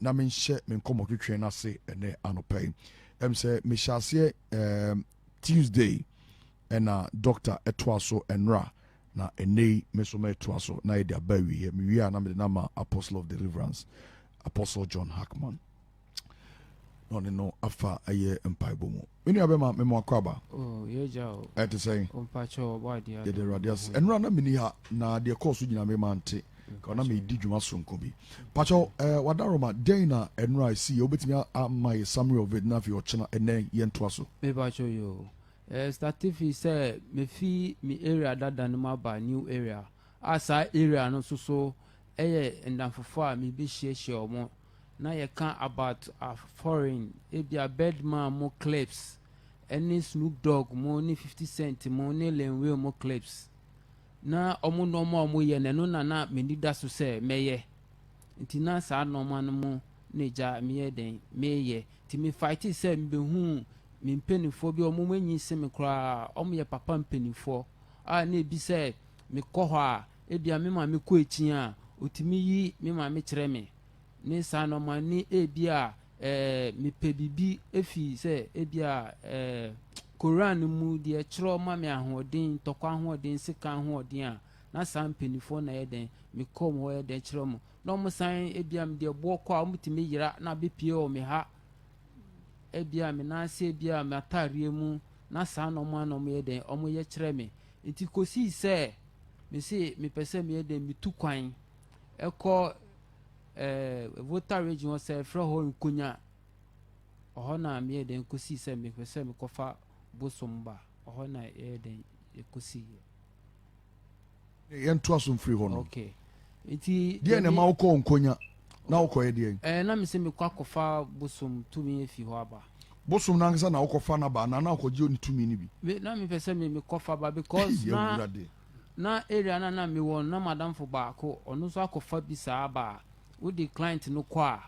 na menhyɛ me nkɔmmɔtwetwe no ase ɛnɛ anɔpa yi ɛm sɛ mehyɛ aseɛ um, tuesday ɛna doctor ɛtoa so ɛnora na ɛnɛ yi me nso mɛtoa so na yɛde aba awieɛ mewie a na mede no ama apostle of deliverance apostle john hackman na ɔne no afa ɛyɛ mpaebɔ mu me nua bɛma mema wakɔ aba oh, ɛte sɛn yɛde awurade ase ɛnora na meni ha na deɛ kɔɔ so nyina mema nte ka na medi dwuma soronko bi pakyɛw eh, wadaroma dɛn na ɛnora ɛsi yɛ wobɛtumi ama yɛ summary of it na afei ɔkyena ɛnɛ yɛntoa so mepakyɛw yo eh, statifi sɛ mefi me area dada no mu aba new area a saa area no nso so ɛyɛ nnamfofo a mebɛhyiahyia wɔn na yɛka about a foreign ebia Birdman mo clips ɛne Snoop Dogg mo ne 50 Cent mo ne Lil Wayne mo clips na wɔn nneɛma a wɔyɛ na ɛno na na m'ani da so sɛ mɛyɛ nti na saa nneɛma no mo na gya meyɛ dɛn meyɛ nti me fight sɛ mebehu me mpanimfoɔ bi wɔn anyi se me koraa wɔn yɛ papa mpanimfoɔ a na ebi sɛ mekɔ hɔ a Ebia me maame kɔ akyin a, otumi yi me maame kyerɛ me, ne saa no ma ne ebia eh, mepɛ biribi efi sɛ ebia eh, Koran no mu deɛ kyerɛ ma me ahoɔden, ntɔkwa ahoɔden, sekan ahoɔden a, na saa mpanimfoɔ na yɛ dɛn, mekɔ wɔn hɔ yɛ dɛn kyerɛ wɔn. Na wɔn san ebia me deɛ boɔ kɔ a, wɔtumi yera na abɛpie wɔ me ha, ebia me nan ase, ebia me ataareɛ mu, na saa na wɔn a na wɔyɛ dɛn, wɔyɛ kyerɛ me. Enti kosii sɛ mese mepɛ sɛ meyɛ dɛn metu kwan kɔ ɛɛ Volta region hɔ sɛ frɛ hɔ nkonya ɔhɔ na meyɛ dɛn kosii sɛ mepɛ sɛ mekɔfa bosom ba ɔhɔ na yɛyɛ dɛn kosii. Yɛntoa so mfiri hɔ no. Okay. Nti deɛ na ɛma wokɔɔ nkonya na wokɔyɛ deɛ? Ɛɛ na mesɛ mekɔ akɔfa bosom tumi afi hɔ aba. Bosom no ankasa na wokɔfa no aba anaa na wokɔgye ne tumi no bi? Me na mepɛ sɛ me mekɔfa ba because na na area na na mewɔ na madamfo baako ɔno nso akɔfa bi saa aba a wode client no kɔ a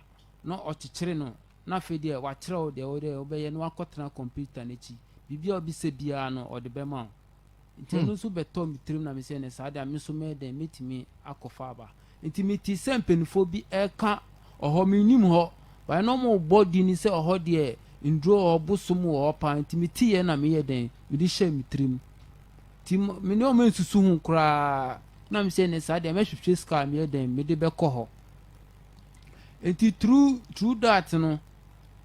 na ɔkyekyere no na afei deɛ wakyerɛ wo deɛ wode wobɛyɛ na wakɔtena computer no akyi biribi a wobisa biara no ɔde bɛma wo. Nti ɛno hmm. nso bɛtɔ me tirim na me sɛ ne saa deɛ me nso mɛyɛ dɛn mɛtumi akɔfa aba nti mete sɛ mpanimfoɔ bi ɛka ɔhɔ menim hɔ baɛ na ɔmobɔ di ni sɛ ɔhɔ deɛ nduro wɔ hɔ bosom wɔ hɔ paa nti meteyɛ na meyɛ dɛn mede hyɛ me tirim nti me ne ɔma nsusu ho koraa na me sɛ ne saa deɛ mɛhwehwɛ sika meyɛ dɛn mede bɛkɔ hɔ nti tru tru dat no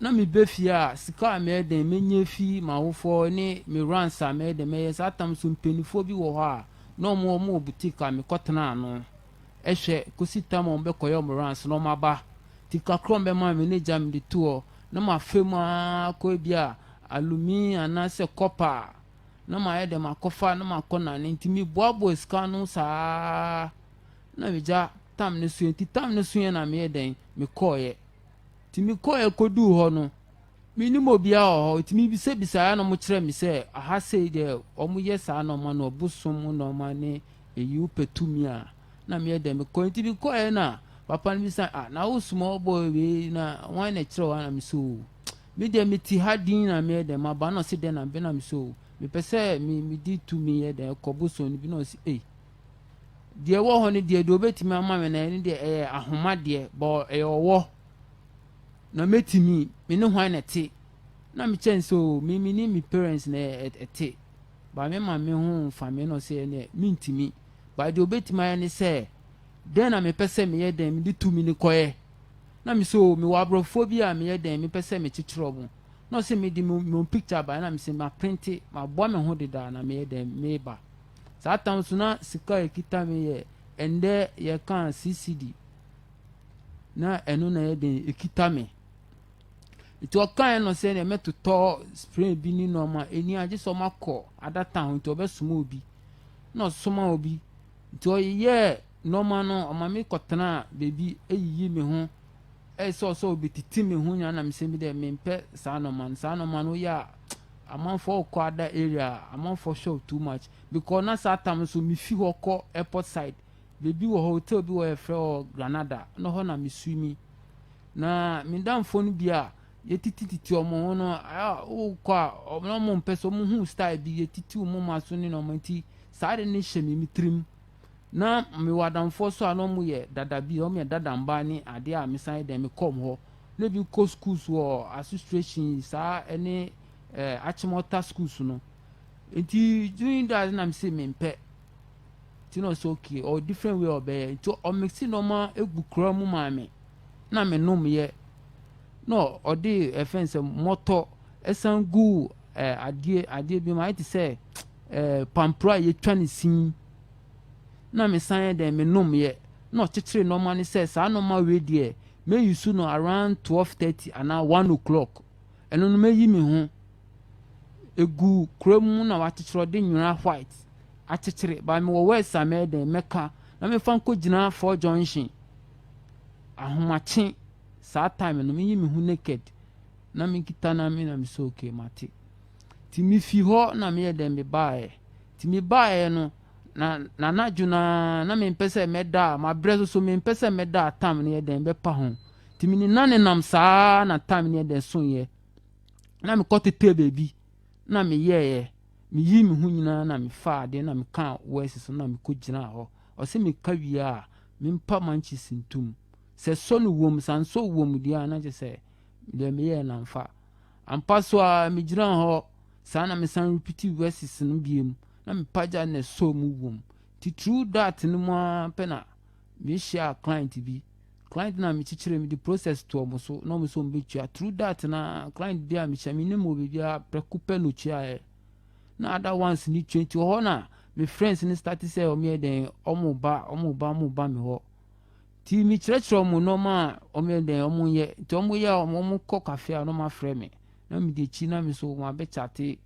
na meba fie a, sika a mɛyɛ dɛn mɛnya afi m'awofoɔ ne me runs a mɛyɛ dɛn mɛyɛ saa tam so mpanimfoɔ bi wɔ hɔ a na wɔn wɔn wɔ boutique a mekɔtena ano hwɛ kɔsi tam a wɔbɛkɔyɛ wɔn runs na wɔaba ti kakra wɔn bɛma me ne gya me de to hɔ na mafa mu ara kɔ ebi a alumi anaasɛ kɔpa na mayɛ dɛn makɔfa na makɔ nane nti meboaboa sika no saa na megya tam no so yɛ nti tam no so yɛ na meyɛ dɛn mekɔɔyɛ. Nti mekɔeɛ kɔduu hɔ no, menim obiara wɔ hɔ, nti mebisabisaeɛ na wɔkyerɛɛ me sɛ aha sei deɛ wɔyɛ saa nnoɔma no, ɔbosom nnoɔma ne ɛyi wopɛ tumi a na meyɛ dɛ mekɔ nti mekɔeɛ na papa no bisa ah na wosoma ɔbɔ wei na wɔn na ɛkyerɛ wɔn na me so me deɛ meti ha din na meyɛ dɛ maba na ɔsi dɛ na mebɛ na me so mepɛ sɛ me medi tumi yɛ dɛ kɔ bosom no bi na ɔsi ei deɛ ɛwɔ hɔ no deɛ deɛ ɔbɛtumi ama me na ɛne deɛ ɛyɛ ahoma deɛ bɔ ɛyɛ ɔwɔ na mɛtumi me ne hwan na ɛte na mekyɛ n sɛ o me me ne me parents na ɛte ba me ma me ho mfa me no sɛ ɛneɛ mentumi ba deɛ ɔbɛtumi ayɛ ne sɛ dɛn na mepɛ sɛ meyɛ dɛn mede tu me ne kɔɛ na me sɛ o mewɔ aborɔfoɔ bi a meyɛ dɛn mepɛ sɛ mekyekyerɛ mo na ɔsɛ mede mo picture ba na me sɛ ma printe maboa me ho dedaa na meyɛ dɛn meba Saa tam so na sika a ɛkita me yɛ ɛndɛ yɛka sisidi na ɛno na ɛyɛ den ɛkita me nti ɔkaeɛ no sɛ deɛ mɛtotɔ spray bi ne nneɛma ɛni agye sɛ ɔmakɔ adata ho nti ɔbɛsoma obi na ɔsoma obi nti ɔyɛ nnoɔma no ɔma me kɔtena baabi yiyi me ho sɛ ɔsɛ ɔbɛtiti me ho nyinaa na mesɛ bi dɛ mempɛ saa nnoɔma no saa nnoɔma no woyɛ a amanfoɔ kɔ ada area amanfoɔ shop too much mekɔ na saa tam nso mefi hɔ kɔ airport side baabi wɔ hɔ hotel bi wɔ yɛfrɛ hɔ Granada na hɔ na meswimi na me damfoɔ no bi a yɛtitititi ɔmo ho no wokɔ a ɔmo mpɛ sɛ ɔmo hu style bi yɛtiti ɔmo ma so ne nnoɔma nti saa de ne hyɛ me me tirim na mewɔ adamfoɔ nso a na wɔn yɛ dada bi, wɔn yɛ dada mmaa ne adeɛ a mesan yɛ dɛn mekɔ wɔn hɔ. Na ebi kɔ schools wɔ association saa ɛne ɛɛ eh, Achimota schools no. Nti during that na mese mempɛ. Nti na ɔsɛ okay, ɔ different way ɔbɛyɛ. Nti ɔmixi nneɛma egu kura mu maa me. Na menom yɛ. Na ɔde ɛfɛn sɛ mɔtɔ ɛsan gu ɛɛ eh, adeɛ adeɛ bi mu ayɛ te sɛ. Eh, pampro a yɛtwa no sin na me san yɛ dɛn me nomyɛ na ɔkyekyere nnoɔma no sɛ saa nnoɔma wei deɛ mɛ use no around twelve thirty anaa one o'clock ɛno no mɛyi me ho egu kura mu na wakyekyere ɔde nwera white akyekyere ba mewɔ words a mɛyɛ dɛn mɛka na mefa nkɔ gyina four junction ahomakye saa time no meyi me ho naked na mekita na me na me sɛ okay mate. Nti mifii hɔ na meyɛɛ dɛn mebaeɛ. Nti mebaeɛ no, na n'anadwo no ara na mempɛ sɛ mɛda a, mabrɛ so, so mempɛ sɛ mɛda a tam no yɛ dɛn bɛpa ho. Nti menenanenam saa ara na tam no yɛ dɛn soeɛ. Na mekɔtetɛɛ baabi na meyɛeɛ. Meyii me ho nyinaa na mefaa adeɛ na mekaa wɛɛse so na mekɔgyinaa hɔ. Ɔse meka wie a, mempa mankyis ntom. Sɛ sɔ no wom, sɛ ansɔ wom deɛ a na kyerɛ sɛ deɛ meyɛɛ no amfa. Ampa so ara, migyinaa hɔ saa na mesan repeatew verses no bio mu, na mepagyaw na ɛsɔɔ mu wom. Titiriw that no mu ara pɛ na mihyiaa client bi. Client no a mikyikyiree mede process too wɔn so na wɔn nso wɔbetua. Through that no ara, client bi a mehyia minnim wɔ baabi ara, prɛko pɛ na otuaeɛ. Na other ones no tua nti wɔ hɔ na me friends no starte sɛ wɔyɛ dɛn, wɔba, wɔba, wɔba me hɔ. Nti mekyerɛkyerɛ wɔn nnoɔma a wɔyɛ dɛn wɔn yɛ nti wɔn yɛ a wɔn kɔ cafe a na wɔn afrɛ me na me de akyi na me nso wɔn abɛ chate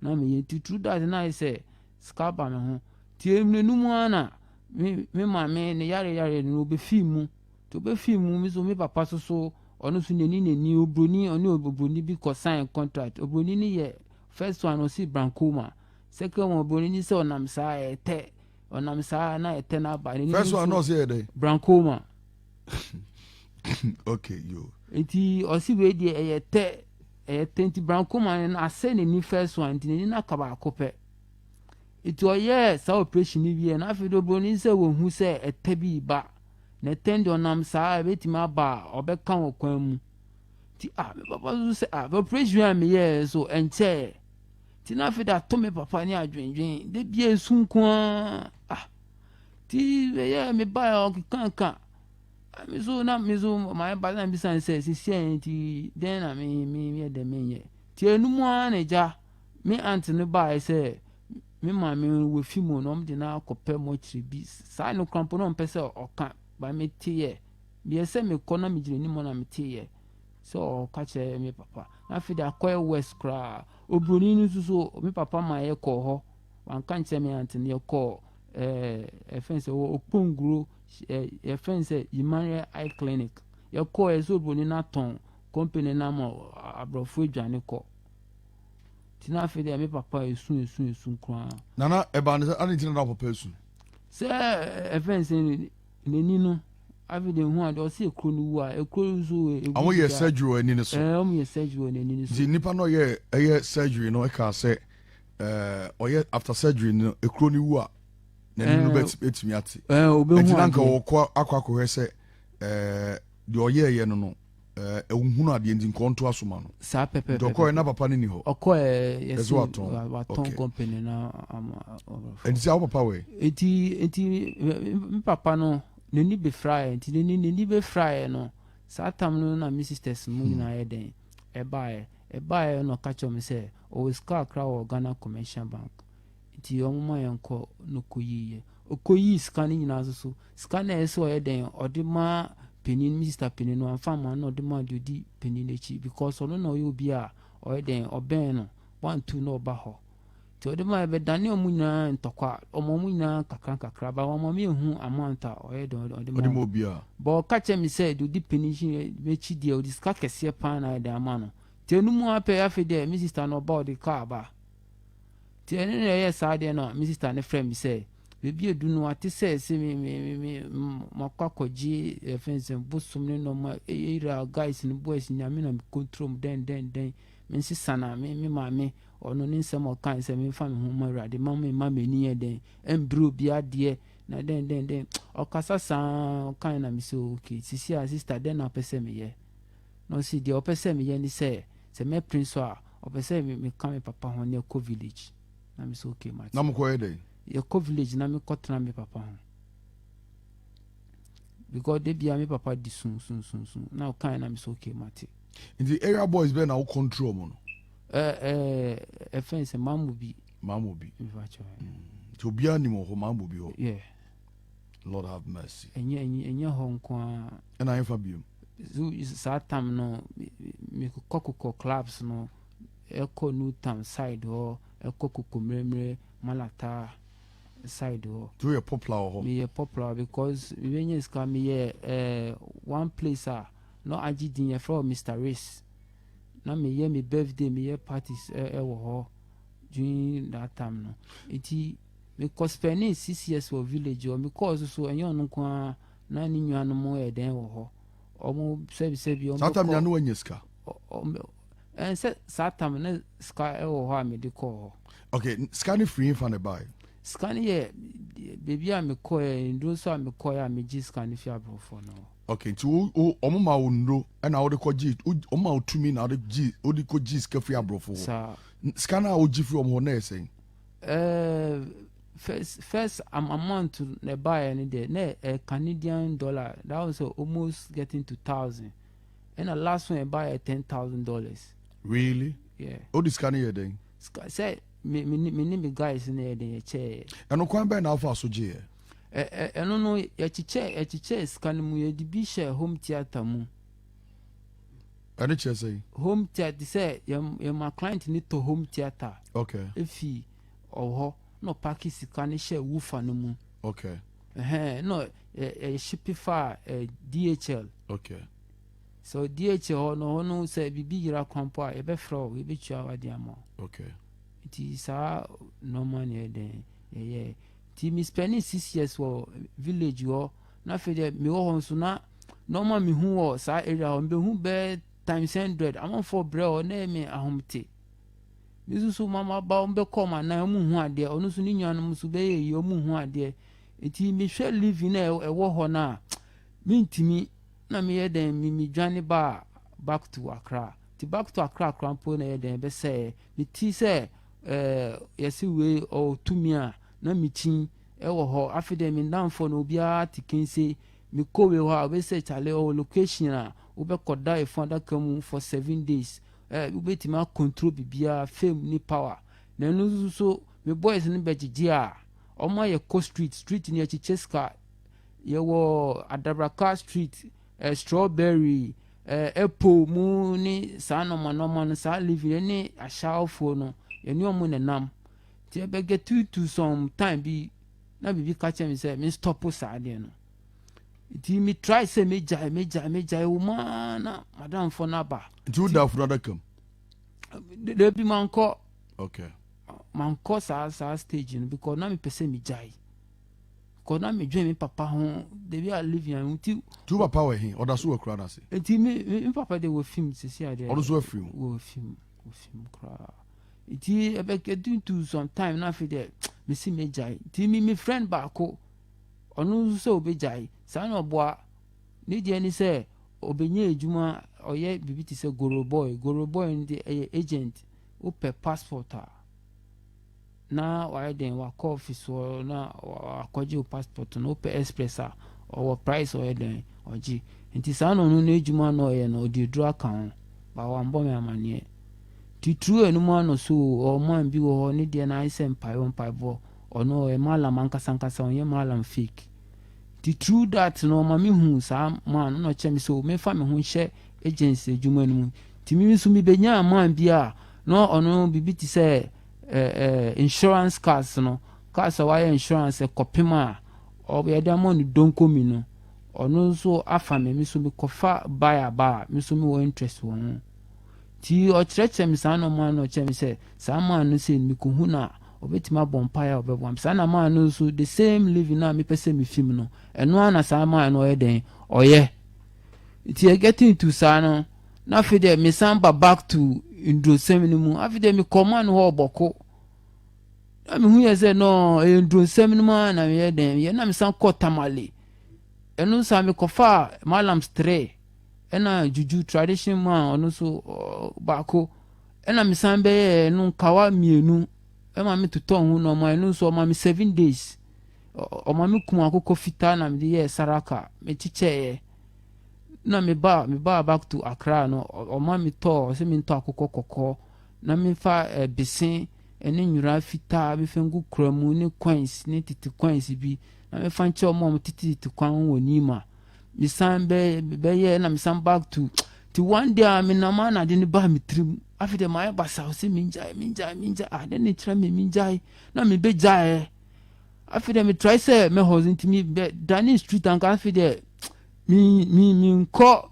na me yɛ nti through that na ayɛ sɛ sika ba me ho nti emire no mu ara na me me maame ne yare yare no ɔbɛ fi mu nti ɔbɛ fi mu me nso me papa nso so ɔno nso n'ani n'ani obroni ɔne obroni bi kɔ sign contract obroni no yɛ first one ɔsi brankoma second one obroni no sɛ ɔnam saa ɛtɛ. ɔnam saa na ɛtɛ no aba ne first one na ɔsɛ yɛ dɛn brancoma okay yo nti ɔsi wei deɛ ɛyɛ tɛ ɛyɛ tɛ nti brancoma no asɛ n'ani first one nti n'ani no aka baako pɛ nti ɔyɛɛ saa operation no wie na afei de oburoni sɛ wɔhu sɛ ɛtɛ bi ba na ɛtɛ deɛ ɔnam saa ɛbɛtumi aba a ɔbɛka wɔ kwan mu nti ah papa so sɛ ah operation a meyɛɛ so ɛnkyɛɛ Ti na afei de ato me papa ne adwendwen de bia esu nko ara ah ti bɛyɛ me ba yɛ ɔkekanka ah, me so na me so my ba na bisa sɛ sisi a yɛn ti dɛn na me me yɛ dɛ me nyɛ ti enum ara na gya me aunt no baa sɛ me maame no wafi mu na ɔmo de no akɔpɛ mɔkyerɛ bi saa no krampo na ɔmpɛ sɛ ɔka ba me te yɛ deɛ sɛ mekɔ na megyina anim na me te yɛ. So ɔka kyerɛ me papa. Na afei de akɔ yɛ west koraa. Obroni no nso so me papa ma yɛ kɔɔ hɔ. Wanka nkyerɛ me ante no yɛ kɔɔ ɛɛ eh, ɛfɛn sɛ wɔ Okponguro ɛɛ ɛfɛn sɛ Yimanrɛ Eye Clinic. Yɛ kɔɔ yɛ so obroni no atɔn company no ama aborɔfo adwane kɔ. Ti na afei de me papa esu esu esu koraa. Nana ɛbaa ne sɛ adi nti na na papa esu. Sɛ ɛfɛn sɛ N'ani no, afei deɛ ehu ade ɔsi ekuro no wu a ekuro no nso egu da. Wɔn yɛ surgery wɔ ani no so. Ɛɛ wɔn yɛ surgery wɔ n'ani no so. Nti nipa no yɛ ɛyɛ surgery no ɛka sɛ ɛɛ ɔyɛ after surgery no ekuro no wu a n'ani no bɛtumi ate. Ɛɛ obehu ade. Nti nanka wɔkɔ akɔ akɔhwɛ sɛ ɛɛ deɛ ɔyɛ ɛyɛ no no. Eh, ehunhunu adeɛ nti nkɔ nto aso ma no. Saa pɛpɛpɛ. Nti ɔkɔɛ na papa no ni hɔ. Ɔkɔɛ yɛsi watɔn watɔn company na ama. Nti sɛ awo papa wɛ. Nti nti n papa no n'ani bɛ fira yɛ nti n'ani n'ani bɛ fira yɛ no saa tam no na mi sisters mu hmm. nyinaa yɛ dɛn ɛba yɛ ɛba yɛ na ɔka kyerɛ mi sɛ ɔwɔ sika akra wɔ Ghana commercial bank nti wɔn ma yɛn kɔ na ɔkɔ yi yɛ ɔkɔ yi sika no nyinaa soso. Sika no a ɛsɛ sɛ ɔyɛ dɛn ɔde ma panin Mister panin no anfa ma na ɔde ma deɛ ɔdi panin n'akyi because ɔno na ɔyɛ obi a ɔyɛ dɛn ɔbɛn no wantu na ɔba hɔ nti ɔde ma ɛbɛdane ɔmo nyinaa ntɔkwa ɔmo ɔmo nyinaa nkakra nkakra ba wɔn ɔmo ehu amount a ɔyɛ dɛn ɔde ma ɔmo bɔ ɔka kyerɛ mi sɛ deɛ ɔdi panin n'akyi deɛ ɔde sika kɛseɛ paa na ayɛ dɛn ama no nti ɛnu mu apɛ afei deɛ mi sista no ɔba ɔde kaa ba nti ɛne na ɛyɛ saa deɛ na mi sista no frɛ mi sɛ. Baabi a edu no, wɔate sɛ ɛsɛ me me me me makɔ akɔgye ɛfɛn eh, sɛ bosom ne nɔɔma eyira eh, eh, guys ne boys nyame na mekontrol mu dɛn dɛn dɛn me nsesa na me me maame ɔno ne nsɛm ɔka sɛ memfa me ho ma awurade ma me ma m'ani yɛ dɛn ɛmbere obi adeɛ na dɛn dɛn dɛn ɔkasa saa ɔkae na me sɛ okay sisi a sister dɛn na ɔpɛ sɛ meyɛ na ɔsi deɛ ɔpɛ sɛ meyɛ ne sɛ sɛ mɛpere so a ɔpɛ sɛ meka me papa ho ne ɛkɔ village na me sɛ okay mate na mokɔyɛ dɛn yɛkɔ village na mekɔtena me papa ho because da bia me papa di sun sun sun sun na ɔkae na me sɛ okay mate nti area boys bɛɛ na wo control mu no ɛfɛn sɛ mamu bi mamu bi nti obiara nim wɔ hɔ mamu bi hɔ lord have mercy ɛnyɛ hɔ nko a ɛna ɛmfa biom saa tam no mekokɔkokɔ clubs no ɛkɔ New Town side hɔ ɛkɔ Kokomiremire Malata side hɔ. Nti woyɛ popular wɔ hɔ? Meyɛ popular because me bɛnya sika me yɛ eh one place a na agye din yɛfrɛ hɔ Mister Riss na me yɛ me birthday me yɛ parties eh ɛwɔ hɔ during that time no nti me kɔ spending six years wɔ village hɔ me kɔɔ so so ɛnyɛ ɔno nko ara na ne nua nom yɛ dɛn wɔ hɔ ɔmo sɛbi sɛbi ɔmo bɛkɔ. Saa time no na wanya sika? Ɛnsɛ saa tam ne sika wɔ hɔ a mede kɔɔ hɔ. Okay, sika no firi fa na ɛbaeɛ? Sika no yɛ baabi a mekɔɛ nnuro so a mekɔɛ a megye sika no fi aborɔfoɔ no hɔ. Okay, nti wɔn ma wo nnuro ɛna wɔde kɔ gye wɔn ma wo tumi na wɔde gye wɔde kɔ gye sika firi aborɔfoɔ hɔ. Saa. Sika no a wɔgye firi wɔn hɔ na ɛyɛ sɛn? Ɛɛ first first amount na ɛbaeɛ no deɛ na ɛyɛ Canadian dollar that was almost getting to thousand. ɛna last one ɛba yɛ ten thousand dollars. really yeah. o de sika no yɛ dɛn. sika sɛ me me me ne me guys no yɛ den yɛ kyɛɛ. ɛno kwan bɛn na afa so gye yɛ. ɛ ɛno no yɛkyekyɛ yɛkyekyɛ sika no mu yɛde bi hyɛ home theatre mu. ɛne kyerɛ sɛ. home theatre sɛ yɛn yɛn ma client ne tɔ home theatre. okay efi ɔhɔ na ɔpaki sika no hyɛ wufa no mu. okay. Ɛhɛn, no yɛship faa DHL. Okay. So DHL hɔ no, hɔ no sɛ biribi yera kwan mpo a, yɛbɛfrɛ wo, yɛbɛtua w'ade ama wo. Okay. Nti saa nɔɔma na yɛ dɛn yɛyɛ. Nti me spending six years wɔ village hɔ, na afei deɛ mewɔ hɔ nso na nɔɔma mehu wɔ saa area hɔ, mebehu bɛɛ times hundred, amanfoɔ brɛ hɔ, na ɛyɛ me ahomte. Me nso so maba wɔn bɛkɔ wɔn anan wɔn hu adeɛ ɔno nso ne nuanom nso bɛyɛ yie wɔn hu adeɛ eti mehwɛ living a ɛwɔ hɔ no a mentumi na meyɛ dɛn me medwane baa back to akra ti back to akra akra mpo na ɛyɛ dɛn bɛsɛɛ meti sɛ ɛɛ yɛsi wei ɔtumi a na mekyin ɛwɔ hɔ afei deɛ me ndanfoɔ no obiara te kense mekɔ wei hɔ a ɔbɛsɛ kyale ɔwɔ location a wobɛkɔda efun adaka mu for seven days. Eh wobɛtumi a control biribiara fame ne power na ɛno nso so me boys no bɛgyegye a wɔn ma yɛ kɔ street street no yɛkyekyɛ sika yɛwɔ adabraka street eh, strawberry eh, apple mu ne saa nɔɔma nɔɔma no saa living ɛne ahyɛafoɔ no yɛne wɔn na nam nti ɛbɛgɛ tutu some time bi na biribi ka kyerɛ me sɛ me stop saa deɛ no nti me try sɛ me gyae me gyae me gyae wo maa na madamfo no aba nti wo da funu adaka mu da bi mankɔ okay mankɔ saa saa stage no because na mepɛ sɛ me gyae because na me dwen me papa ho da bi a live yan nti tu papa wɔ he ɔda so wɔ kura no ase nti me me papa de wɔ fim sisi adeɛ ɔno so afiri mu wɔ fim wɔ fim koraa nti ɛbɛkɛ tuntu sometime na afei deɛ mesi me gyae nti me me friend baako Ɔno nso sɛ ɔbɛgyae. Saa na ɔboa. Ne deɛ ne sɛ ɔbɛnya adwuma, ɔyɛ biribi te sɛ goro boy. Goro boy no deɛ ɛyɛ agent. Wopɛ passport a, na wayɛ dɛn, wakɔ office hɔ na wakɔgye wo passport no. Wopɛ express a, ɔwɔ price ɔyɛ dɛn, ɔgye. Nti saa na ɔno n'adwuma na ɔyɛ no, ɔde aduro aka ho. Ba wammɔ me amanneɛ. Titiriw ɛno mu anɔso o, ɔwɔ man bi wɔ hɔ, ne deɛ no ayɛ sɛ mpaebɔ mpaebɔ. Ɔno ɔyɛ mallam ankasa ankasa ɔnyɛ mallam fake nti through that no ɔma me hu saa man no na ɔkyerɛ me sɛ o memfa me ho nhyɛ agency adwuma no mu nti me nso mebenyaa man bi a na ɔno biribi te sɛ ɛɛ eh, ɛɛ eh, insurance cars no cars a wɔayɛ insurance kɔpem a ɔbɛyɛ de ama no donko mi no ɔno nso afa me me nso mekɔfa buy a ba a me nso mewɔ interest wɔ ho nti ɔkyerɛkyerɛ me saa nɔɔma no ɔkyerɛ me sɛ saa man no sɛ mekɔhu no a ɔbɛtumi abɔ mpaeɛ a ɔbɛboa me saa na maa no nso the same living no a mepɛ sɛ mefi mu no ɛno ara na saa maa no ɔyɛ dɛn ɔyɛ nti yɛ getting to saa no na afei deɛ mesan ba back to ndurosɛm no mu afei deɛ mekɔ ma no hɔ ɔbɔko na mehu yɛ sɛ no ɛyɛ ndurosɛm no mu a na meyɛ dɛn yɛ na mesan kɔ tamale ɛno nso a mekɔfa malams tre ɛna juju tradition mu a ɔno nso baako Ɛna me san bɛyɛɛ ɛno nkawa mmienu ɛma me totɔɔ ho nɔɔma ɛno nso ɔma me seven days ɔma me kum akokɔ fitaa na mede yɛɛ saraka me kyekyɛɛ na me ba me ba back to akra no ɔma me tɔɔ ɔsɛ me ntɔ akokɔ kɔkɔɔ na mefa eh, bese ɛne nwura fitaa mefa ngu kura mu ne coins ne tete coins bi na mefa nkyɛ ɔmo a ɔmo tete tete kwan ho wɔ nima mesan bɛ bɛyɛ na mesan back to nti one day a menam a na ade no baa me tirim afei deɛ mayɛ basaw sɛ mengyae mengyae mengyae ah dɛn na ɛkyerɛ me mengyae na mebɛgyaeɛ afei deɛ metrae sɛ mɛhɔ so nti mebɛdane street anka afei deɛ menkɔ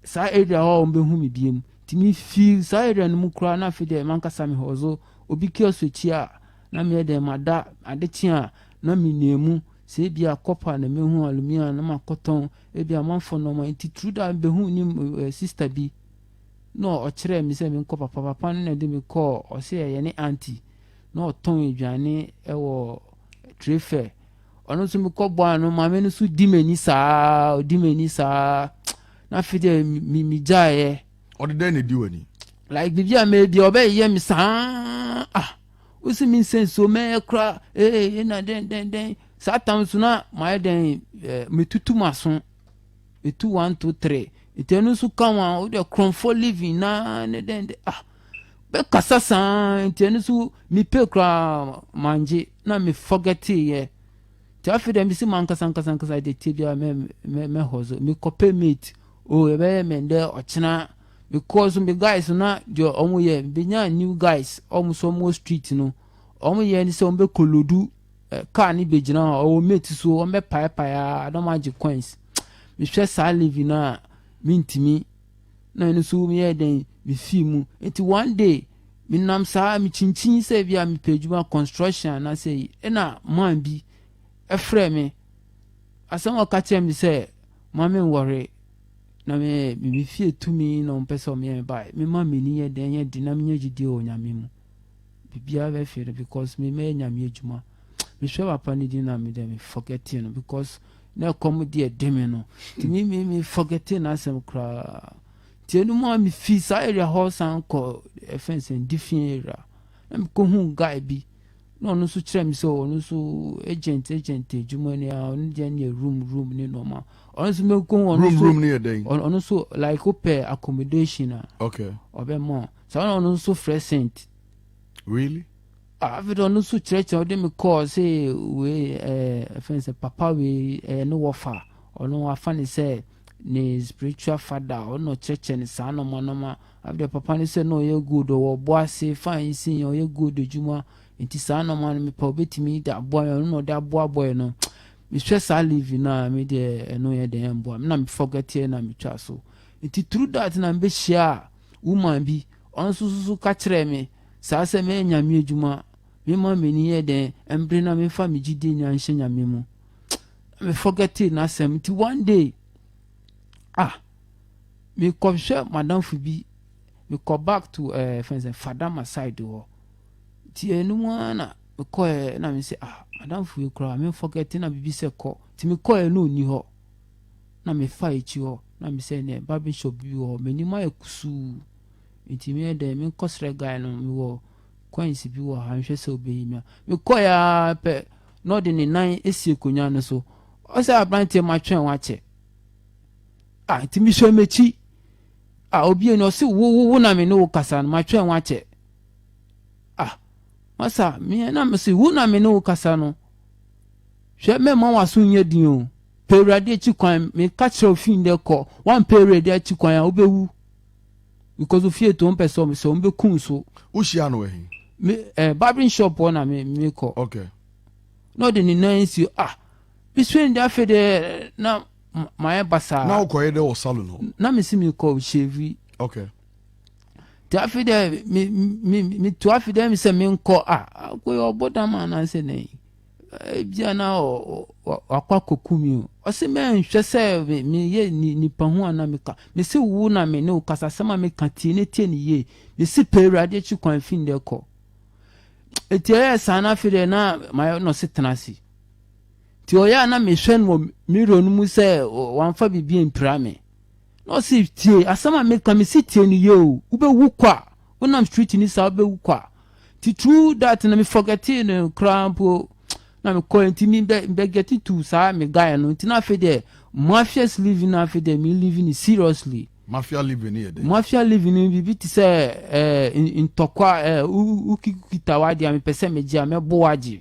saa area hɔ a wɔbɛhu me biam nti mefii saa area no mu koraa na afei deɛ mankasa mehɔ so obi kiosk akyi a na meyɛ dɛn mada ade kye a na menua mu Sɛ ebia copper na mehu alumia a na makɔtɔn ebia amanfoɔ nnoɔma nti tru da mebɛhuu ne eh sister bi na ɔkyerɛɛ me sɛ menkɔ papa papa no na ɛde me kɔɔ ɔse ɛyɛ ne aunty na ɔtɔn aduane wɔ trade fair ɔno nso mekɔ bɔɔ ano maame no nso di m'ani saa ɔdi m'ani saa na afei deɛ me megyaeɛ ɔde dɛn na ɛdi w'ani like biribi a mɛyɛ bia ɔbɛyɛ me saa ah wosi me nsɛ nsuo mɛyɛ kora ee yɛ na dɛn dɛn dɛn saa tam so na mayɛ dɛn ɛɛ eh, metutu m'aso metu one two three nti ɛno nso ka ho a wode korɔmfoɔ living na ne dɛn dɛn ah bɛkasa saa nti ɛno nso mepɛ koraa mangye na mefɔgɛteeɛ nti afei dɛ mesi mankasa nkasa nkasa de tie biara mɛhɔ so mekɔpɛ mate o oh, yɛbɛyɛ mɛndɛ ɔkyena Me kɔɔ so me guys no na deɛ ɔmo yɛ me bɛnyaa new guys ɔmo so ɔmo wɔ street no ɔmo yɛ ne sɛ ɔmo bɛ kolodu car ne bɛ gyina hɔ ɔwɔ mate so ɔmo bɛ pae pae aa na ɔmo agye coins me hwɛ saa living no a me ntumi na ɛno nso me yɛ dɛn me fii mu nti one day me nam saa me kyinkyin sɛ bi a me pɛ adwuma construction anaasɛ yi ɛna man bi ɛfrɛ me asɛm ɔka kyerɛ me sɛ maame nwɔre Na me me me fie tumi na wɔn pɛ sɛ wɔn yɛ me ba me ma me ni yɛ dɛn yɛ di na me nya gyidie wɔ nyame mu biribiara bɛ fɛ no because me mɛyɛ nyame adwuma me hwɛ papa ne di na me dɛ me forget no because na ɛkɔm di ɛde me no ti me me me forget na asɛm koraa ti ɛnu mu a me fi saa area hɔ san kɔ ɛfɛn sɛ ndi fi area na me kɔ hu guy bi. na ɔno nso kyerɛ me sɛ ɔno nso agent agent adwuma ni a ɔno deɛ ne yɛ room room ne nɔɔma ɔno nso mɛkɔ ɔno nso room room ne yɛ dɛn ɔno nso like wopɛ accommodation a okay ɔbɛma saa na ɔno nso frɛ sent really afei de ɔno nso kyerɛkyerɛ ɔde me kɔɔ sɛ wei ɛɛ ɛfɛn sɛ papa wei ɛɛ ne wɔfa ɔno afa ne sɛ ne spiritual father ɔno ɔkyerɛkyerɛ ne saa nɔɔma nɔɔma Adeɛ papa ne sɛ na ɔyɛ gold ɔwɔ ɔboase fine nsin yɛ ɔyɛ gold adwuma nti saa nɔɔma no mepɛ ɔbɛtumi de aboa yɛ ɔno na ɔde aboa boy no mehwɛ saa live no a me deɛ ɛno yɛ dɛn ɛmboa me na me forgeteɛ na metwa so nti through that na mebɛhyia woman bi ɔno nso nso ka kyerɛɛ me saa sɛ mɛyɛ nyame adwuma mema m'ani yɛ dɛn ɛmbere na memfa me gyidie nyinaa nhyɛ nyame mu na me forgete n'asɛm nti one day ah mekɔhwɛ m'adamfo bi, mekɔ back to ɛɛ eh, fɛn sɛ Fadama side hɔ. Nti ɛno mu ara na mekɔɛ na me sɛ ah madamfo yi koraa me forget na bibi sɛ kɔ. Nti mekɔɛ na ɔni hɔ na mefa akyi hɔ na me sɛ nɛ babe shop bi wɔ hɔ m'anim ayɛ kusuu. Nti meyɛ dɛ menkɔsrɛ guy no mewɔ coins bi wɔ ha nhwɛ sɛ ɔbɛyi me a. Mekɔɛ ara pɛ na ɔde ne nan asi akonnwa no so. Ɔsɛ aberanteɛ matwɛn wakyɛ. a nti mesua m'akyi a obie no ɔse wo wo wo na me ne wo kasa no matwɛn wo akyɛ ah masa me na mese wo na me ne wo kasa no hwɛ mɛma w'aso nyɛ din o pɛ awurade akyi kwan meka kyerɛ ofi ndɛ kɔ wampɛ awurade akyi kwan a wobɛwu because ofie to mpɛ sɛ ɔmesɛ ɔmbɛkum so wohyia no ɛhe me eh, barbering shop hɔ na me mekɔ okay na ɔde ne nan si ah mesua ndɛ afei dɛ na mayɛ basaa. na wokɔyɛ dɛ wɔ salon hɔ. na mesi mekɔ hyɛvi okay. nti afei dɛ metu afei dɛ sɛ menkɔ a akoyɛ ɔbɔ dam anaasɛ dɛn ebia na wakɔ akɔku mi o ɔse mɛnhwɛ sɛ meyɛ nipa ho ana meka mese wo na me ne wo kasa asɛm a meka tie ne tie ne yie mese pɛ awurade akyi kwan fi ndɛ kɔ ɛti ɛyɛ saa no afei dɛ na mayɛ nɔse tena ase Ntsi ɔyɛ a na mehwɛ no wɔ mirror no mu sɛ ɔammfa biribi emmpira me. Na ɔse, Tsie asɛm a mekã, mese tsie no yie o, wobɛwu kwa, wonam street no saa wobɛwu kwa. Ntsi through that no me forgettee no koraa mpo na mekɔe, ntsi me bɛ bɛ gette to saa me guy no, ntsi na afei deɛ mafia's living no afei deɛ me living no seriously. Mafia living no yɛ dɛn? Mafia living no biribi te sɛ ɛɛ ntɔkwa, ɛɛ wo wo wokita w'adeɛ a mepɛ sɛ megye a mɛbo wo agye.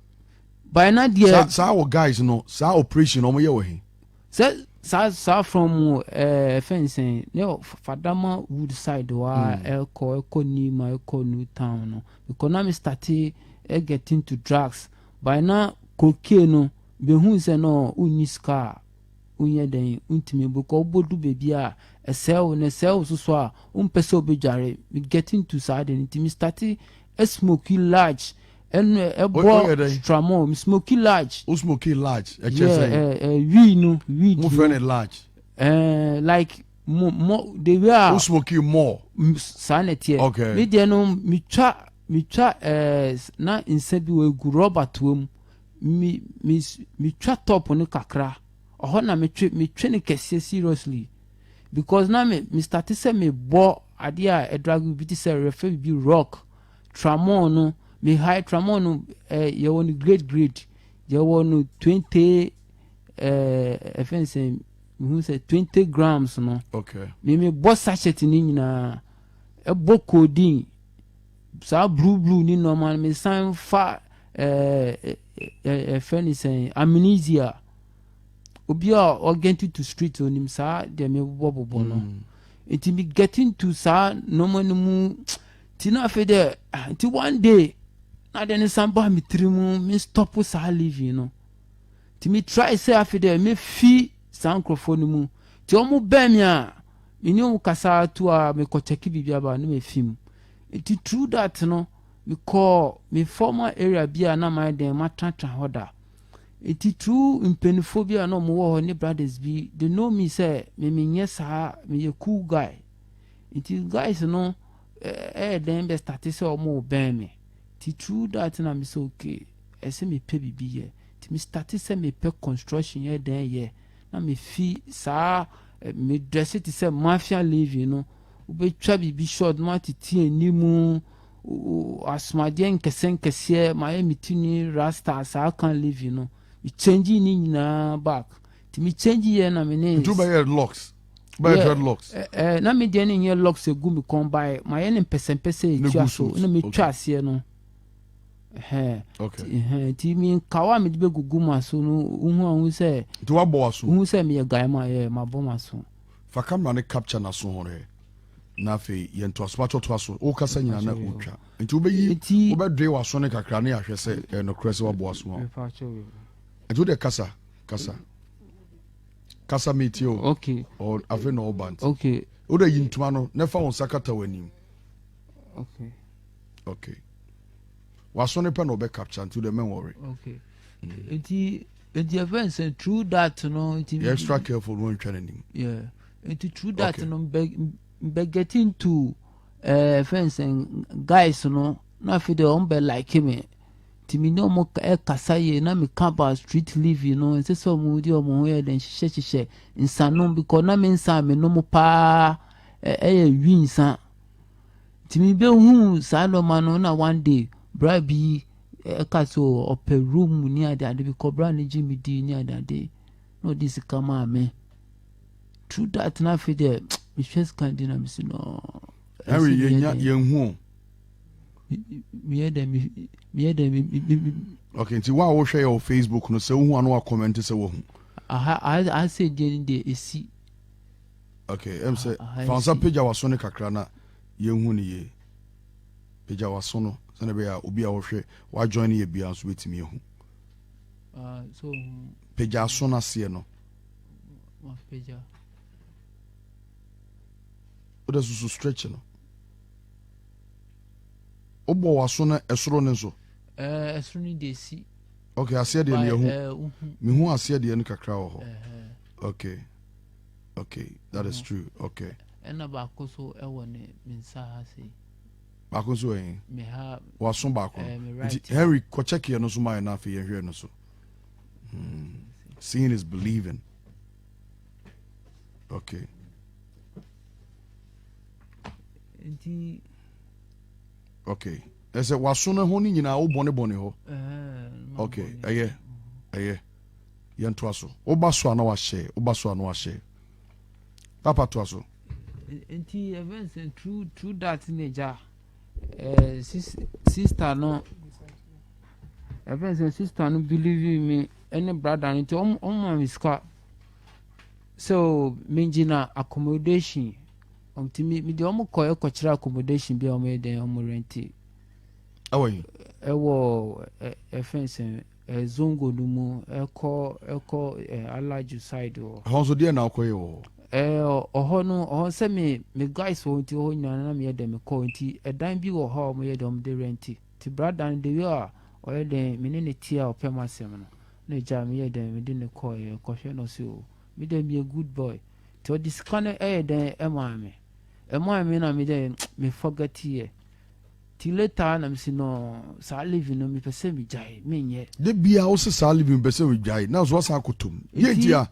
by na deɛ. saa saa wɔ guys no saa operation wɔn yɛ wɔ he. sɛ saa saa from ɛɛ eh, fɛnsɛn ne fadama wood side hɔ a hmm. ɛkɔ ɛkɔ nima ɛkɔ new town no because na mi start ɛ eh, get into drugs by na kokie no behu sɛ no wonni sika a wonyɛ dɛn wontumi because wobɔdu baabi a ɛsɛe wo na ɛsɛe wo soso a wompɛ sɛ wobɛdware get into saa de no nti mi start Smoky large ɛnu ɛ ɛbɔ tramɔ mu smoky large. o smoky large ẹ kyẹ sẹ. ẹ ẹ wii no wii di. mo fẹ ne large. ẹ eh, like mo mo the way a. o smoky more. saa na ẹteɛ. ok mi deɛ no mi twa mi twa ẹ eh, na nsa bi wɔ egu rɔba toa mu mi mi mi twa top no kakra ɔhɔ na mi twe mi twe ne kɛseɛ seriously. because na me me starte sɛ me bɔ adeɛ a ɛdrage bi te sɛ yɛfrɛ biribi rock tramon no me high tramon no eh, yɛwɔ no grade grade yɛwɔ no twenty eh, ɛfɛn sɛ mehu sɛ twenty grams no okay. me me bɔ sachet no nyinaa ɛbɔ codeine saa blue blue ne nɔɔma no me san fa ɛfɛ eh, eh, eh, ne sɛn amnesia obi a ɔ get into street onim saa deɛ mebobɔ bobɔ no mm. nti me get into saa nneɛma no mu nti na afei dɛ ah, nti one day na deɛ ne san baa me tiri mu me stop saa living no nti me try sɛ afei dɛ mefi saa nkurɔfoɔ no mu nti wɔn bɛn me a me ne wɔn kasa to a mekɔkyɛke biribi aba no mafi mu nti through that no mekɔɔ me former area bi a na mayɛ dɛn matenatena hɔ da Titiriw mpanyimfo bi a na wɔwɔ hɔ ne brothers bi de no mi sɛ me menyɛ saa, meyɛ cool guy. Nti guys no ɛyɛ dɛn bɛ starte sɛ wɔbɛn me. Titiriw that na me sɛ okay, ɛsɛ mepɛ biribi yɛ. Nti me starte sɛ mepɛ construction yɛ dɛn yɛ. Na mefi saa me dresse te sɛ mafia living no, wobɛtwa biribi short na watete anim asomadeɛ nkɛseɛ nkɛseɛ mayɛ me ti ni rasta saa kan levi no me change ne nyinaa back nti me change yɛ na me ne. ntu bɛyɛ locks bɛyɛ dread locks. ɛɛ eh, eh, na me deɛ ne nyɛ locks egu mi kɔn bae mayɛ ne mpɛsɛmpɛsɛ etua so na me twa aseɛ no ɛhɛn ɛhɛn nti mi nkawa a mi de bɛ gugu ma so no ohun a ohun sɛ. nti wa bɔ wa so. ohun sɛ mi yɛ guy ma yɛ ma bɔ ma so. fa camera ne capture na so hɔn hɛ. na afei yɛ ntoasomato ɔtoa so wokasa nyina na wotwa nti wobɛyi wobɛdoe waso no kakra ne ahwɛ sɛ ɛyɛ nokorɛ sɛ waboa so a nti wode kasa kasa kasa metie o afei na ɔba nti wode yi ntoma no na ɛfa wo nsa kata w'anim okay okay waso no pɛ na ɔbɛ capture nti wode mɛnwɔre okay nti nti ɛfɛ nsɛ true that no nti yɛ extra careful no antwa n'anim yeah nti through that okay. no mbɛ get into ɛɛ eh, friends and eh, guys no na afei de wɔn bɛ like me nti mi ne wɔn ɛkasa yie na mi ka about street living no nsɛ sɛ wɔn di wɔn ho yɛ dɛ nhyehyɛ hyehyɛ nsanom because na mi nsa mi nom paa ɛyɛ eh, eh, wi nsa nti mi bɛ hu saa nneɛma no na one day bra bi ɛka so ɔpɛ room ne ade ade bi kɔ bra ne gye mi di ne ade ade. na ɔde sika maa me true that na afei deɛ mehwɛ sika di na mesi no ɛsɛ yɛ nya yɛn hu o meyɛ dɛ meyɛ dɛ ok nti wo a wohwɛ yɛ wɔ facebook no sɛ wohu ano wakɔmɛnte sɛ wahu asɛ deɛ no deɛ ɛsi ok ɛm sɛ fansa pagya waso no kakra na yɛhu no yie pagya waso no sɛne bɛyɛ a obi a wɔhwɛ wajoin no yɛ bia nso bɛtumi ahu Ah, so pagya aso no aseɛ no mapagya wode susu stretch no wobɔ w'aso no ɛsoro no nso eh, ɛsoro no deɛ si ok aseɛ deɛ neɛhu eh, mehu aseɛ deɛ no kakra wɔ hɔ ok ok that is true ok ɛna baako so ɛwɔ ne mensa ha sei baako nso wɔ he waso baako no nti henry kɔkyɛkeɛ no so maɛ no afei yɛhwɛ no so hmm. seeing is believing okay okay ɛsɛ waso no ho no nyinaa wo bɔnebɔne hɔ okay ɛyɛ ɛyɛ yɛntoa so woba so a na wahyɛ woba so a na wahyɛ papa toa so Nti yɛfrɛ no sɛ true true dat ne gya ɛɛ sis sista no yɛfrɛ no sɛ sista no biliivi mi ɛne brada no nti ɔmo ɔmo ma me sika sɛ oo megyina akomodehyin nti me me deɛ ɔmo kɔ ɛkɔ kyerɛ akomodehyin bi a ɔmo yɛ dɛn ɔmo rɛnti. Ɛwɔ yi. Ɛwɔ ɛ ɛfɛn sɛn. Ɛɛ Zongo no mu, ɛkɔ ɛkɔ ɛɛ Alaju side hɔ. Ɛhɔ nso deɛ na ɔkɔyɛ wɔ hɔ? Ɛɛ ɔhɔ no ɔhɔ sɛ me me guys wɔ hɔ nti ɔhɔ nyinaa na meyɛ dɛ mekɔ nti ɛdan bi wɔ hɔ a wɔyɛ dɛ wɔde rɛnti nti brada no the way a ɔyɛ dɛ me ne no te a ɔpɛ m'asɛm no na ɛgyaa me yɛ dɛ mede no kɔeɛ ɛkɔhwɛ no ɔse oo me dɛ meyɛ good boy nti ɔde sika no ɛyɛ dɛn ɛmaa me ɛmaa me na me dɛ me forget yɛ Ti later na mese no saa living no mepɛ sɛ megyae menyɛ. De bia wo se saa living mepɛ sɛ megyae na so wasan akɔtɔ mu. Yɛ nti a.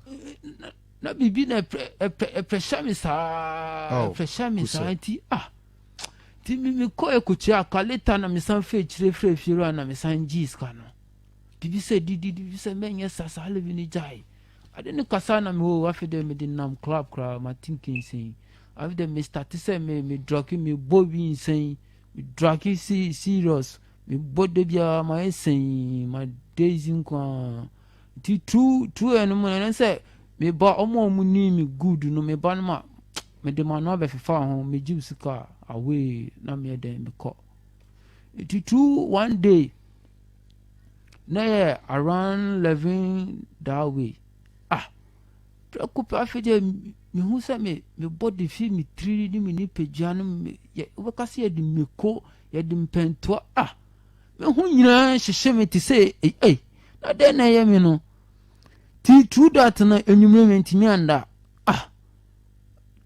Na biribi na ɛpɛ hyɛ me saa ɛpɛ hyɛ me saa nti ah nti mekɔ ɛkɔkyerɛ aka later na mesan fɛ akyire frɛ fiewura ah, na mesan gyee sika no bibi sɛ didi bibi sɛ mɛnyɛ sa saa living no gyae ade ne kasa na mewɔ afei dɛ mede nam club koraa matenkensen Afei de me starte sɛ me me drɔke me bɔ bi nsɛn me drɔke si serious me bɔ de biara ma yɛ sɛn ma daisy nkoa nti true true yɛ no mu na sɛ me ba ɔmo a ɔmo ni me good no me ba no ma me de ma no abɛfefa ho me gye sika away na me yɛ dɛn me kɔ nti true one day na yɛ around eleven that way ah Prɛko pɛ afei deɛ mehu sɛ me me body fi me tiri ne me nipadua no me yɛ wobɛka sɛ yɛde mako yɛde mpɛntoa a me ho nyinaa hyehye me te sɛ ei ei na dɛn na ɛyɛ me no ti true that no enyimire me ntumi anda ah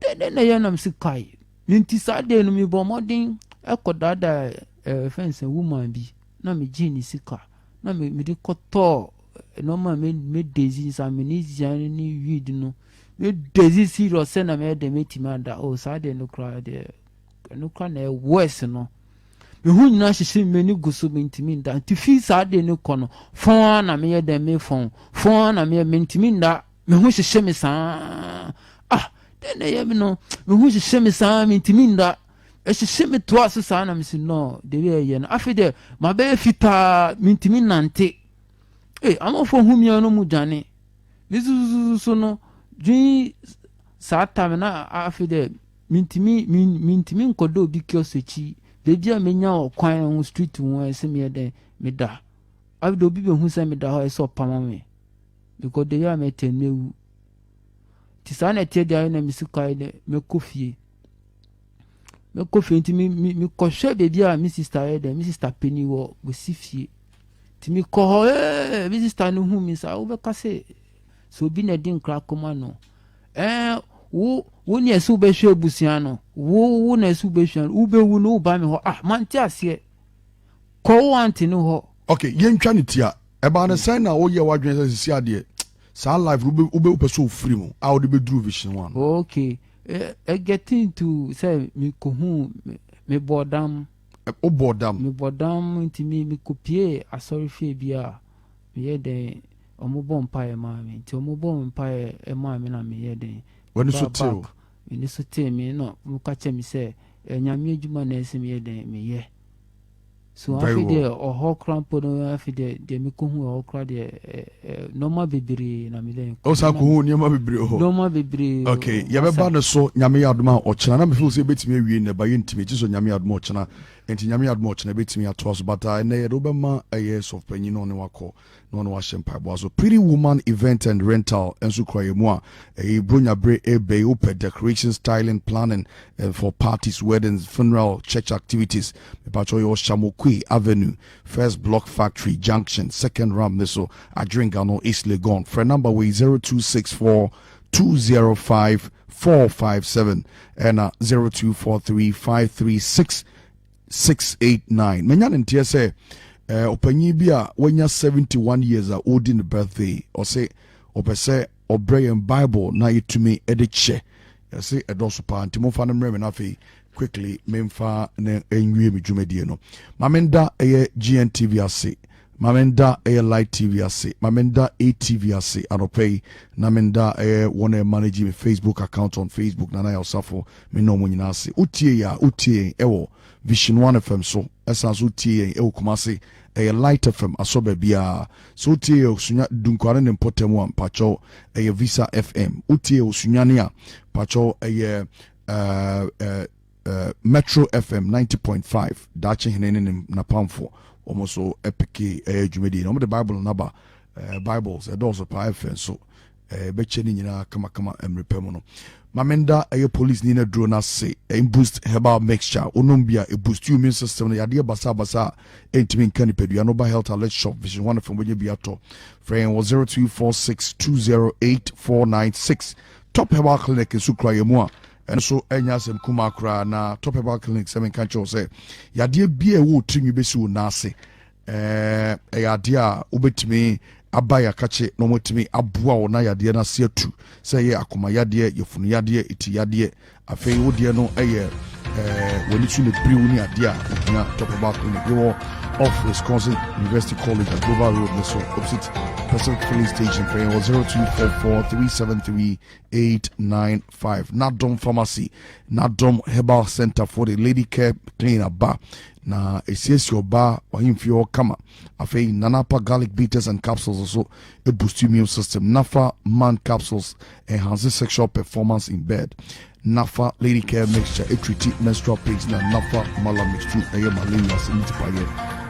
dɛn dɛn na ɛyɛ nam si kae me nti saa deɛ no me bɔ mmɔden ɛkɔ daadaa ɛɛ fɛn sɛ woman bi na me gye ne sika na me me de kɔtɔɔ. nneɛma a mɛda edzi saa me ne dzian ne weed no meda edzi serious sɛ na mɛyɛ dɛ mɛtumi ada o oh, saa deɛ no koraa deɛ ɛno koraa na ɛwɔɛs no me ho nyinaa hyehyɛ me ani gu so mentumi nda nti fi saa deɛ no kɔ no fɔn ara na meyɛ dɛ mefɔn fɔn ara na meyɛ mentumi nda me ho hyehyɛ me saa ah dɛn na ɛyɛ me no me ho hyehyɛ me saa mentumi nda ɛhyehyɛ me toa so saa na mesi no deɛ ɛyɛ no afei deɛ mabɛyɛ fitaa mentumi nante Ee, amamfo hu mia no mu dwane. Ne susususu no dwen saa tam na afi dɛ mintimi mintimi nkɔda obi kiosk akyi baabi a menya wɔ kwan ho street ho ɛsɛ meyɛ dɛ meda afi dɛ obi behu sɛ meda hɔ ɛsɛ ɔpama me because dɛ yɛ a mɛtɛ mɛwu nti saa na ɛteɛ deɛ ayɛ na mesi kwae dɛ mɛkɔ fie Mɛkɔ fie nti mekɔhwɛ baabi a me sista yɛ dɛ me sista panin wɔ wɔsi fie nti mekɔ hɔ ee me sista no hu me saa wobɛka sɛ sɛ obi na ɛde nkra kɔma no ɛɛ wo wo ne ɛsɛ wobɛhwɛ abusua no wo wo na ɛsɛ wobɛhwɛ no wobɛwu no woba me hɔ ah mante aseɛ kɔ wo ante no hɔ ok yɛntwa ne tia ɛbaa no sɛn na woyɛ w'adwene sɛ sisi adeɛ saa life wobɛpɛ sɛ ofiri mu a wode bɛduru vision one ok Getting to sɛ mekohuu mebɔɔ dam. Wobɔɔ dam? Mebɔɔ dam nti mekopiee asɔrefie bi a meyɛ dɛn wɔbɔ mpaeɛ maa me nti wɔbɔɔ me mpaeɛ maa me na meyɛ dɛn. W'ani so tee wo? M'ani so tee me na wɔka kyerɛɛ me sɛ Nyame adwuma na ɛsɛ sɛ meyɛ dɛn meyɛ. So Very afei well. deɛ ɔhɔ koraa mpo no afei deɛ deɛ mekɔhu ɛhɔ koraa deɛ ɛ- ɛ, nneɛma bebree na medɛ o saa ko ho nneɛma bebree hɔ nneɛma bebree o, okay masa. yɛbɛba no so nyame yɛ adom a ɔkyena na mefeel sɛ yɛbɛtumi awie nnɛ ba yɛntumi gye so nyame yɛ adom a ɔkyena nti nyame yɛ adom a ɔkyena yɛbɛtumi atoa so but ah, ɛnnɛ yɛde wobɛma ɛyɛ sɔfpanyin na ɔne wakɔ na ɔne wo ahyɛ mpaebɔ aso. Pretty Woman Event and Rental nso kura yɛn mu a ɛyɛ Buronya bere reba yi. Wopɛ decoration, styling, planning and for parties, weddings, funeral, church activities? Mepakyɛw yɛwɔ Shamokuei Avenue, First Block Factory Junction, Second Ramp no so, Adwengga no, East Legon. Frɛ number wei, 0264 205 457 ɛna 0243 536 Six, eight, nine, Manya ne nteɛ sɛ eh, ɔpanyin bi a wanya 71 years a ɔredi ne birthday, ɔse ɔpɛ sɛ ɔbrɛ yɛn Bible na yɛtumi de kyɛ. Ɛse ɛdɔɔso paa, nti momfa no mmerɛ me na afei quickly memfa no nwie me dwumadie no. Ma menda ɛyɛ GNTV ase Ma menda ɛyɛ Light TV ase, ma menda ATV ase anɔpa yi, na menda ɛyɛ wɔn a ɛmanage me Facebook account on Facebook, Nana Yaw Safo, me ne wɔn nyinaa ase. Wotie yɛn a, wotie yɛn ɛwɔ Vision One FM so, ɛsan nso wotie yɛn ɛwɔ Kumasi, ɛyɛ Light FM asɔ baabiara. Sɛ wotie yɛn wɔ Sunya, Dunkwaa ne ne mpɔtam a, mpakyɛw, ɛyɛ Visa FM. Wotie yɛn wɔ Sunyani a, mpakyɛw, ɛyɛ ɛɛ, ɛɛ, Metro FM ninety point five daakye hene ne ne napamfo wɔn nso peke ɛyɛ dwumadie na wɔn de bible no aba ɛɛ bibles ɛdɔɔso paa ɛfɛ nso ɛɛ bɛkyɛ ne nyinaa kamakama mmerɛ pɛ mu no maame nda ɛyɛ police ni na duro no ase ɛn boost herbal mixture onom bi a ɛboost you immune system no yadeɛ basabasa a ɛntumi nka nipadua no ba health alert shop vision one fam wɔnyɛ bi atɔ frɛ yɛn wɔ zero two four six two zero eight four nine six top herbal clinic nso kura yɛn mu a Ɛno nso nyɛ asɛm kumaa koraa, na Top Herbal Clinic sɛ menka nkyerɛ wo sɛ yadeɛ biara ɛwɔ wo tirinwi bɛsi wo nan ase, ɛyɛ adeɛ a wobɛtumi aba yɛakakye na wɔatumi aboa wo na yadeɛ no ase atu, sɛ ɛyɛ akoma yadeɛ, yafunu yadeɛ, eti yadeɛ. Afei wo deɛ no ɛyɛ w'ani so na biriw ne adeɛ a ohia Top Herbal Clinic. Yɛwɔ off Wisconsin University College at Global Road ne so opposite Pacific Filling Station, fɛn wɔ 0244 373 eight nine five nadom pharmacy nadom herbal center for the lady care clean aba na esiesie ɔbaa ɔhemfie hɔ kama afei nanapa garlic bitters and capsules so boost immune system nafa man capsules enhance sexual performance in bed nafa lady care mixture etriti menstrual pains na nafa mala mixture ɛyɛ malaria sɛ ne tipayɛ